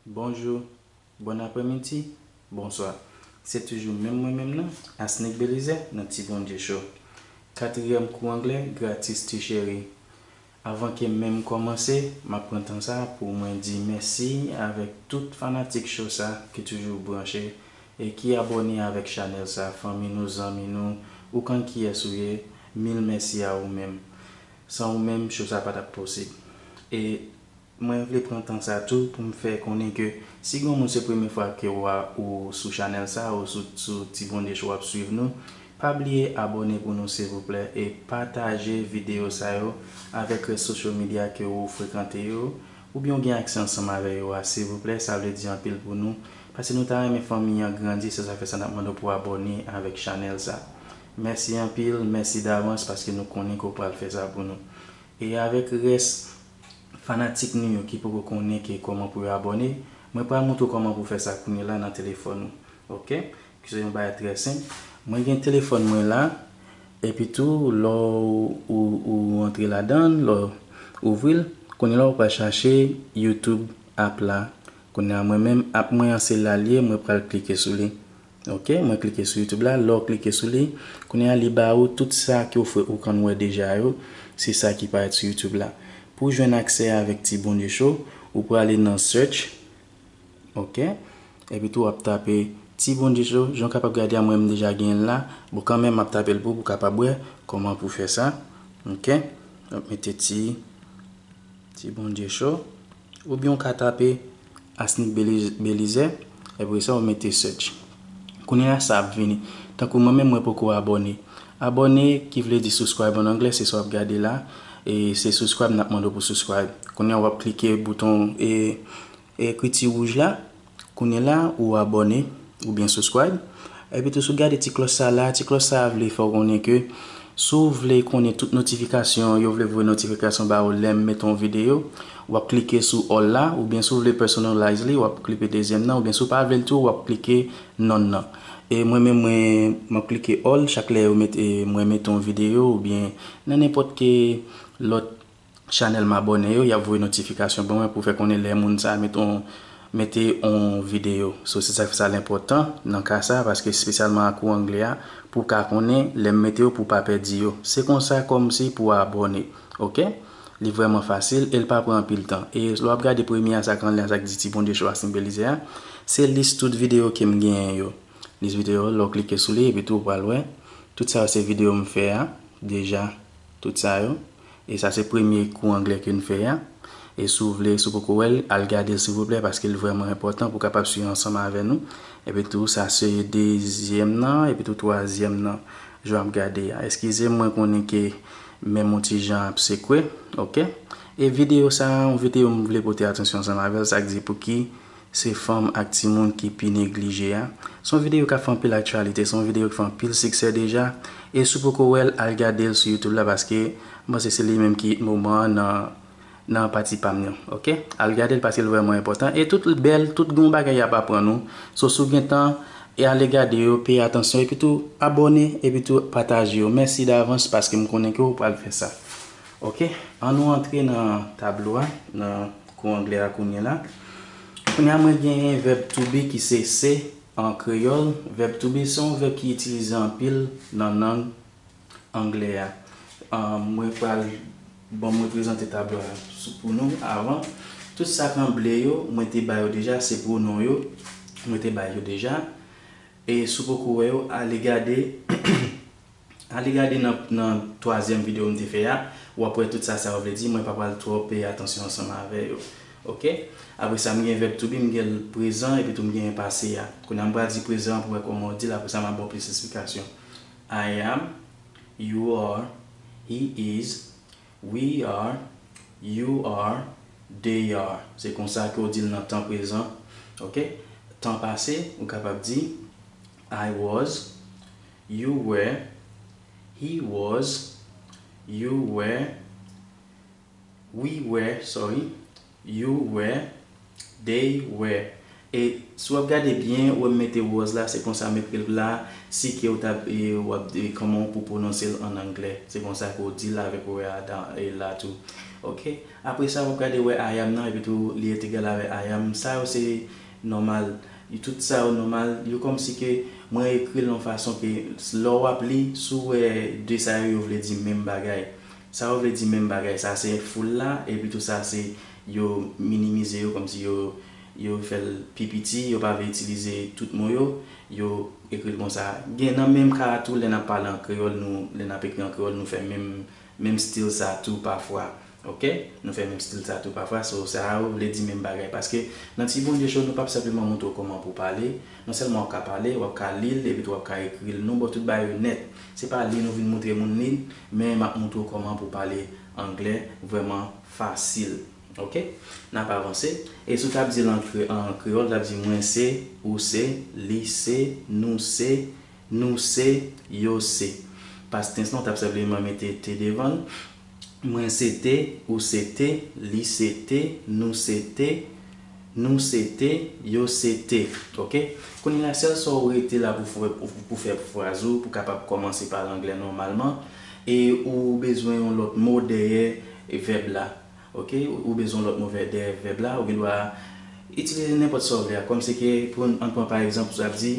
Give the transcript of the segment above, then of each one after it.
Bonjou, Bon apremidi, Bonswa. Se toujou menm mwen menm nan, Asnick Belizaire nan Ti Bondye Show. Katriyèm kou anglè gratis ti cheri. Avan ke menm kòmanse, map pran tan sa pou mwen di mèsi avèk tout fanatik show sa ki toujou branche e ki abòne avèk chanèl sa, fanmi nou, zanmi nou, ou k'ann kiyès ou ye, mil mèsi a ou menm. San ou menm show sa pa tap posib. E Mwen vle pran tan sa tou pou m fè konnen ke si gon moun se premye fwa ke w a ou sou chanèl sa ou sou sou Tibondye Show w ap swiv nou pa bliye abòne pou nou silvouplè e pataje videyo sa yo avèk rès social media ke ou frekante yo oubyen ou gen aksè ansanm avè yo a silvouplè sa vle di anpil pou nou pase nou ta renmen fanmi an grandi se sa fè sa n ap mande w pou w abòne avèk chanèl sa mèsi anpil mèsi davans paske nou konnen ke w pral fè sa pou nou e avèk rès. Fanatik nou yo ki poko konnen ke kòman pou yo abòne, mwen pral moutre w kòman pou w fè sa kounye la nan telefòn ou. Ok. Ki se yon bagay trè senp. Mwen gen telefòn mwen la, epi tou lò ou ou antre ladan l, lò ou ouvri l, kounye la ou pral chache YouTube app la. Kounye a mwen menm app mwen an se la l ye, mwen pral klike sou li. Ok mwen klike sou youtube la lèw klike sou li kounye a li ba ou tout sa ke ou fwe ou konn wè deja yo se sa ki parèt sou youtube la pouw jwenn aksè avèk ti bondye cho ou prale nan search ok epi tou wap tape ti bondye cho jan ou kapab gade a mwen menm deja genyenl la bon kanmenm map tapel pou ou kapab wè kòman pou fè sa ok wap mete ti. Ti bondye cho. Ou byen ou ka tape Asnick Belizè apresa ou mete search. Kounye a sa ap vini. Tankou mwen menm mwen poko abone. Abone ki vle di subscribe an anglè se sa wap gade la e se subscribe nap mande w pou subscribe. Kounye a wap klike bouton e. Ekri ti wouj la, kounye la ou abòne oubyen subscribe. Epitou si w gade ti klòch sa la, ti klòch sa a vle fè w konnen ke si w vle konnen tout notifikasyon, yo vle voye notifikasyon ba ou lè m mete yon videyo, w ap klike sou all la, oubyen si w vle personalize li, w ap klipe dezyèm nan, oubyen si w pa vle l tou, w ap klike none nan. E mwen menm mwen, m ap klike all chak lè yo mete, mwen mete yon videyo oubyen nan nenpòt ke lòt chanèl m abòne yo yap voye notifikasyon ban mwen pou fè konnen lè moun sa met on mete on videyo so se sak fè sa l enpòtan nan ka sa paske espesyalman a kou angle a pou w ka konnen lè m mete yo pou w pa pèdi yo se konsa kòm si pou w abòne ok li vrèman fasil e l pa pran anpil tan e lè wap gade premye a sak anlè a sak di ti bondye cho a sinbolize a se lis tout videyo ke m genyen yo lis videyo lè w klike sou li epitou ou pral wè tout sa yo se videyo m fè a deja tout sa yo. E sa se premye kou anglè ke n fè a. E si w vle, si w poko wè l, al gade l silvouplè paske l vrèman enpòtan pou w kapab swiv ansanm avè nou. Epitou sa se dezyèm nan, epitou twazyèm nan. Jan w ap gade a. Eskize m mwen konnen ke men m yon ti jan ap sekwe. Ok. E videyo sa a, yon videyo m vle pote atansyon ansanm avè l, sa k di pou ki Se fanm ak timoun ki pi neglije a. Se yon videyo kap fè anpil aktyalite, se yon videyo ki fè anpil siksè deja, e si w poko wè l al gade l sou youtube la paske m panse se li menm ki it moman an nan nan pati pa m nan ok al gade l paske l vrèman enpòtan e tout l bèl tout gen yon bagay yap aprann ou so si w gen tan e ale gade yo peye atansyon epi tou abòne epi tou pataje yo mèsi davans paske m konnen ke w pral fè sa ok an nou antre nan tablo a nan. Kou anglè a kounye la. Kounye a mwen genyen vèb to be ki se se an kreyòl. Vèb to be se yon vèb ki itilize anpil nan lang anglè a. Mwen pral bon mwen prezante tablo a pou nou avan. Tout sa k an ble yo mwen te ba yo deja se pwonon yo. Mwen te bay yo deja. E si w poko wè yo ale gade Ale gade nan nan twazyèm video m te fè a wap wè tout sa sa yo vle di mwen pa pral twò peye atansyon ansanm avè yo ok apre sa m gen vèb to be m gen l prezan epi tou m genyen pase a kounye a m pral di prezan an pou wè kòman w di l apre sa map ba w plis esplikasyon I am you are he is we are you are they are se konsa ke w di l nan tan prezan ok tan pase ou kapab di I was, you were, He was, you were, We were, sorry, you were, They were E si w ap gade byen, wè m mete was la, se konsa m ekri l la, si ke w ta w ap kòman w pou pwononse l an angle, se konsa ke w di l avèk were a dan e la tou. Ok. Apre sa, w ap gade wè I am nan epitou li et egal avè I am. Sa yo se Nòmal. Yo tout sa yo nòmal. Yo kòmsi ke mwen ekri l yon fason ke lè w ap li, si w wè de sa yo, yo vle di menm bagay. Sa yo vle di menm bagay. Sa se foul la, epi tou sa se yo minimize yo kòmsi yo yo fè l pi piti, yo pa vle itilize tout mo yo, yo ekri l konsa. Gen nan menm ka a tou lè n ap pale an kreyòl nou, lè n ap ekri an kreyòl nou fè menm menm stil sa tou pafwa. Ok nou fè menm stil sa tou pafwa so sa ou vle di menm bagay paske nan ti bondye show nou pap senpleman moutre w koman pou w pale non sèlman wap ka pale wap ka li l epi tou wap ka ekri l nou bo tout bagay yo nèt se pa li nou vin moutre moun li men map moutre w koman pou w pale anglè vrèman fasil ok nap avanse e si w tap di l an kreyòl tap di mwen se ou se li se nou se nou se yo se past tens lan ou tap senpleman mete te devan l. Mwen se te Ou se te Li se te Nou se te Nou se te Yo se te Ok Kounye a sèl sa ou rete la pou fè pou fè fraz ou pou kapab kòmanse pale anglè nòmalman e ou bezwen yon lòt mo dèyè vèb la Ok ou bezwen yon lòt mo dèyè vèb la ou gendwa itilize nenpòt sa ou vle a kòm se ke pou ann pran pa egzanp ou ap di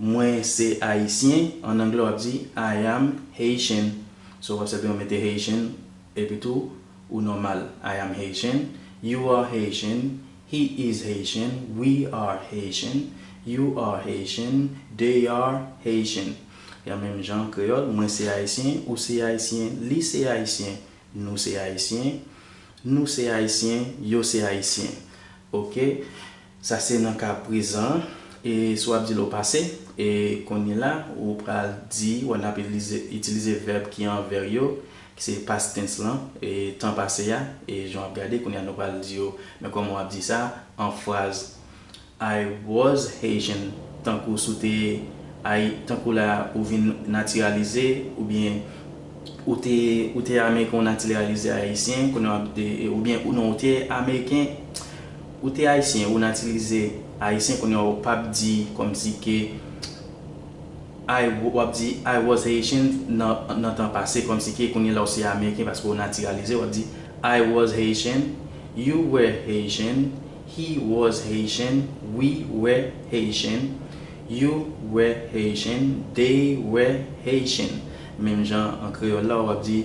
Mwen se Ayisyen an anglè w ap di I am Haitian. So wap sèten ou mete Haitian epi tou ou nòmal I am Haitian, you are Haitian, he is Haitian, we are Haitian, you are Haitian, they are Haitian ya menm jan kreyòl mwen se ayisyen, ou se ayisyen, li se ayisyen, nou se ayisyen, nou se ayisyen, yo se ayisyen ok. Sa se nan ka prezan an. E si w ap di l o pase, e konyela ou pral di wè n ap itilize vèb ki an vè yo, ki se past tens lan, e tan pase a, e jan w ap gade kounya nou pral di yo men kòman w ap di sa an fraz I was Haitian tankou si w te Ayi tankou la ou vin natiralize oubyen ou te ou te Ameriken ou natiralize Ayisyen kounya w ap oubyen non ou te Ameriken Ou te ayisyen ou natilize ayisyen kounye a ou pap di komsi ke I wap di I was Haitian nan tan pase komsi ke kounye la ou se ameriken paske ou natiralize wap di I was Haitian, you were Haitian, he was Haitian, we were Haitian, you were Haitian, they were Haitian menm jan an kreyòl la wap di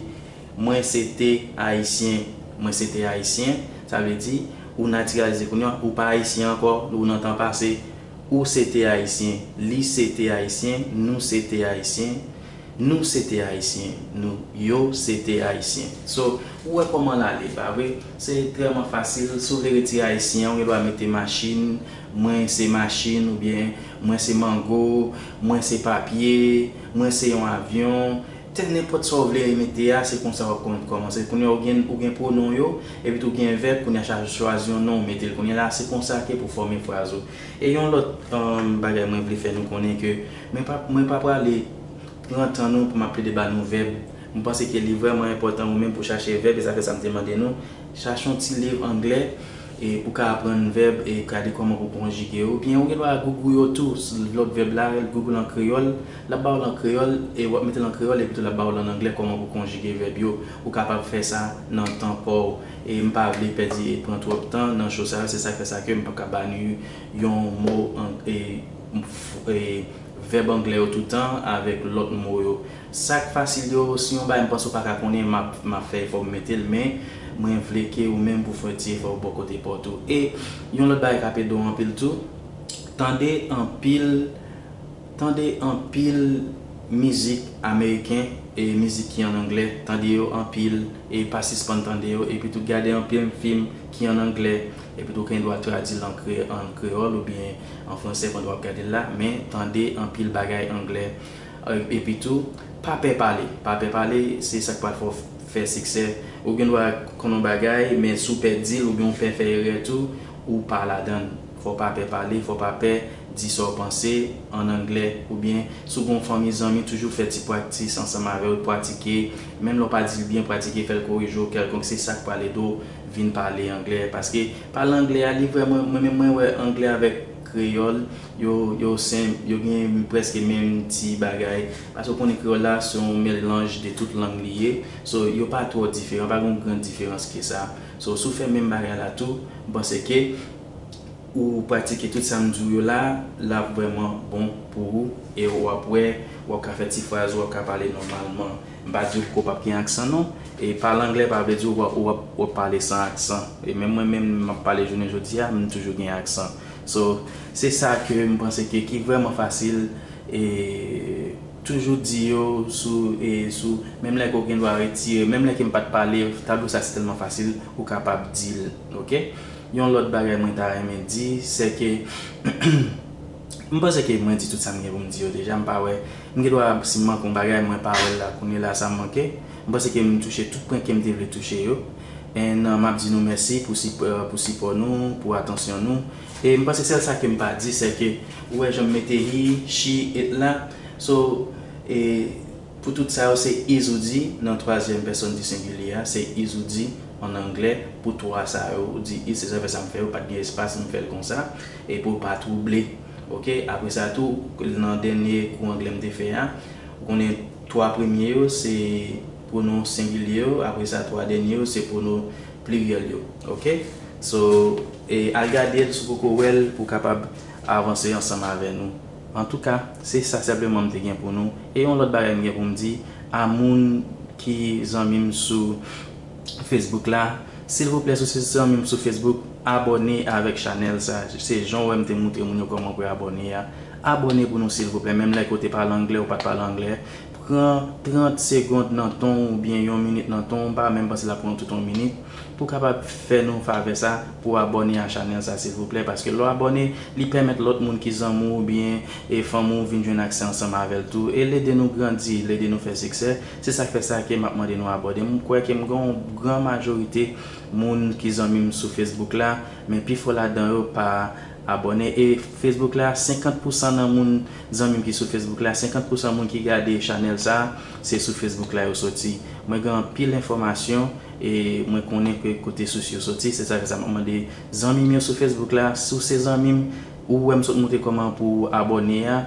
Mwen se te Ayisyen. Mwen se te Ayisyen, sa vle di, ou natiralize kounye a, ou pa Ayisyen ankò, ou nan tan pase. Ou se te Ayisyen. Li se te Ayisyen. Nou se te Ayisyen. Nou se te Ayisyen. Nou, yo, se te Ayisyen. So, ou wè kòman l ale, pa vre? Se etrèman fasil. Si w vle retire Ayisyen an, ou gen dwa mete machin, mwen se machin oubyen mwen se mango, mwen se papye, mwen se yon avyon, Tè nenpòt sa ou vle mete a se konsa wap kòmanse kounya ou gen ou gen pwonon yo epi tou gen vèb kounya chaje chwazi yon non ou metel kounya la se konsa ke pou fòme fraz ou e yon lòt bagay mwen vle fè nou konnen ke mwen pa mwen pa prale pran tan nou pou map plede ba nou vèb mwen panse ke li vrèman enpòtan ou menm pou chache vèb e sa fè sa mte mande nou chache yon ti liv anglè e pou ka aprann vèb e gade kòman pou konjige yo ou byen ou gen dwa gougou yo tou lòt vèb la gougou l an kreyòl L ap ba w l an kreyòl, e w ap mete l an kreyòl, epitou l ap ba w l an anglè kòman pou konjige vèb yo. Ou kapab fè sa nan tan pa w. E m pa vle pèdi e pran twòp tan nan cho sa yo, se sa k fè sa ke m p ap ka ba nu yon mo e e vèb anglè yo toutan avèk lòt mo yo. Sa k fasil yo, si yon bagay m panse ou pa ka konnen, m ap m ap fè efò pou m mete l, men mwen vle ke ou menm pou w fè yon ti efò bò kote pa w tou. E yon lòt bagay k ap ede w anpil tou, tande anpil. Tande anpil mizik ameriken e mizik ki an anglè, tande yo anpil e pa sispann tande yo, epitou gade anpil fim ki an anglè, epitou w gen dwa tradi l an kreyòl oubyen an fransè pandan w ap gade l la, men tande anpil bagay anglè. Epitou, pa pè pale, pa pè pale, se sa k pral fè w fè siksè. Ou gen dwa konn yon bagay, men si w pè di l oubyen w pè fè erè tou, ou pa ladan l. Fò w pa pè pale, fò w pa pè di sa w panse, an anglè, oubyen si w gen yon fanmi zanmi toujou fè ti praktis ansanm avè yo, pratike, menm lè w pa di l byen pratike fè l korije w kèlkonk se sa k pral ede w vin pale anglè paske pale anglè a li vrèman mwen menm mwen wè anglè avèk kreyòl yo yo senp yo gen prèske menm ti bagay paske w konnen kreyòl la se yon melnj de tout lang li ye so yo pa twò diferan pa gen yon gran diferans ke sa so si w fè menm bagay la tou m panse ke. ou pratike tout sa m di w yo la, l ap vrèman bon pou ou e w ap wè w ap ka fè ti fraz, w ap ka pale nòmalman. M pa di w ke w p ap gen aksan non. E pale anglè pa vle di w w ap pale san aksan. E menm mwen menm m ap pale jounen jodi a, m toujou gen aksan. So, se sa ke m panse ke ki vrèman fasil e toujou di yo sou e sou menm lè ke w gen dwa retire menm lè ke m pa t pale tablo sa se tèlman fasil ou kapab di l. Ok. Yon lòt bagay mwen ta renmen di, sè ke m panse ke mwen di tout sa m gen pou m di yo deja, m pa wè, m gen dwa si m manke yon bagay mwen pa wè l la kounye la sa m manke, m panse ke m touche tout pwen ke m te vle touche yo, and m ap di nou mèsi pou sipò nou, pou atansyon nou, e m panse sèl sa ke m pa di sè ke ou wè jan m mete hi, shi, et la, so e. Pou tout sa yo, se is ou di nan twazyèm pèsòn di sengilye a, se is ou di an anglè pou twa sa yo. Ou di is se zafè sa m fè yo pa t gen espas, m fè l konsa e pou l pa twouble. Oke. Apre sa tou, nan dènye kou anglè m te fè a, ou konnen twa premye yo se pwonon sengilye yo, apre sa twa dènye yo se pwonon pliryèl yo. Oke. So, al gade l si w poko wè l pou w kapab avanse ansanm avè nou. Antouka, se sa senpleman m te gen pou nou. E yon lòt bagay m gen pou m di a moun ki zanmi m sou Facebook la, silvouplè si w se zanmi m sou Facebook, abòne avèk chanèl sa. Se jan w wè m te moutre moun yo kòman pou yo abòne a. Abòne pou nou silvouplè, menm lè ke w te pale anglè, ou pa t pale anglè. Pran 30 segond nan tan w oubyen yon minit nan tan w, m pa menm panse l ap pran w tout yon minit, pou w kapab fè nou favè sa, pou w abòne a chanèl sa silvouplè, paske lè w abòne, li pèmèt lòt moun ki zanmi w oubyen e fanmi w vin jwenn aksè ansanm avè l tou, e l ede nou grandi, l ede nou fè siksè, se sa k fè sa ke m ap mande nou abòde, m kwè ke m gen yon gran majorite moun ki zanmi m sou Facebook la, men pifò ladan yo pa abòne, e Facebook la 50 pousan nan moun Zanmim ki sou Facebook la 50 pousan moun ki gade chanèl sa se sou Facebook la yo soti mwen gen anpil enfòmasyon e mwen konnen ke kote sous yo soti se sa fè sa map mande zanmim yo sou Facebook la si w se zanmim ou wèm sot moutre kòman pou w abòne a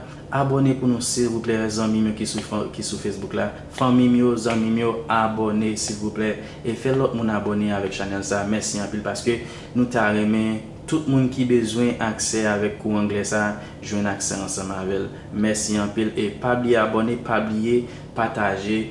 abòne pou nou silvouplè zanmim yo ki sou Facebook la fanmim yo zanmim yo abòne silvouplè e fè lòt moun abòne avèk chanèl sa mèsi anpil paske nou ta renmen Tout moun ki bezwen aksè avèk kou anglè sa jwenn aksè ansanm avèl mèsi anpil e pa bliye abòne pa bliye pataje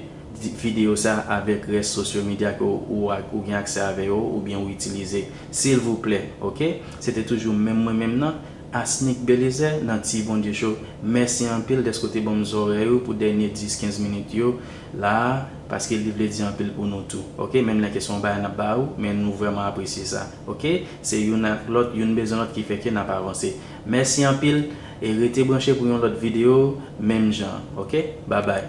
video sa avèk rès sosyo medya ke ou gen aksè avè yo oubyen ou itilize silvouplè ok se te toujou menm mwen menm nan Asnick Belizè nan Ti Bondye Show mèsi anpil dèske ou te banm zòrèy ou pou dènye 10 15 minit yo la paske li vle di anpil pou nou tou ok menm lè ke se yon bagay nap ba ou men nou vrèman apresye sa ok. Se youn ak lòt, youn bezwen lòt ki fè ke nap avanse. Mèsi anpil e rete branche pou yon lòt video menm jan an ok. Babay.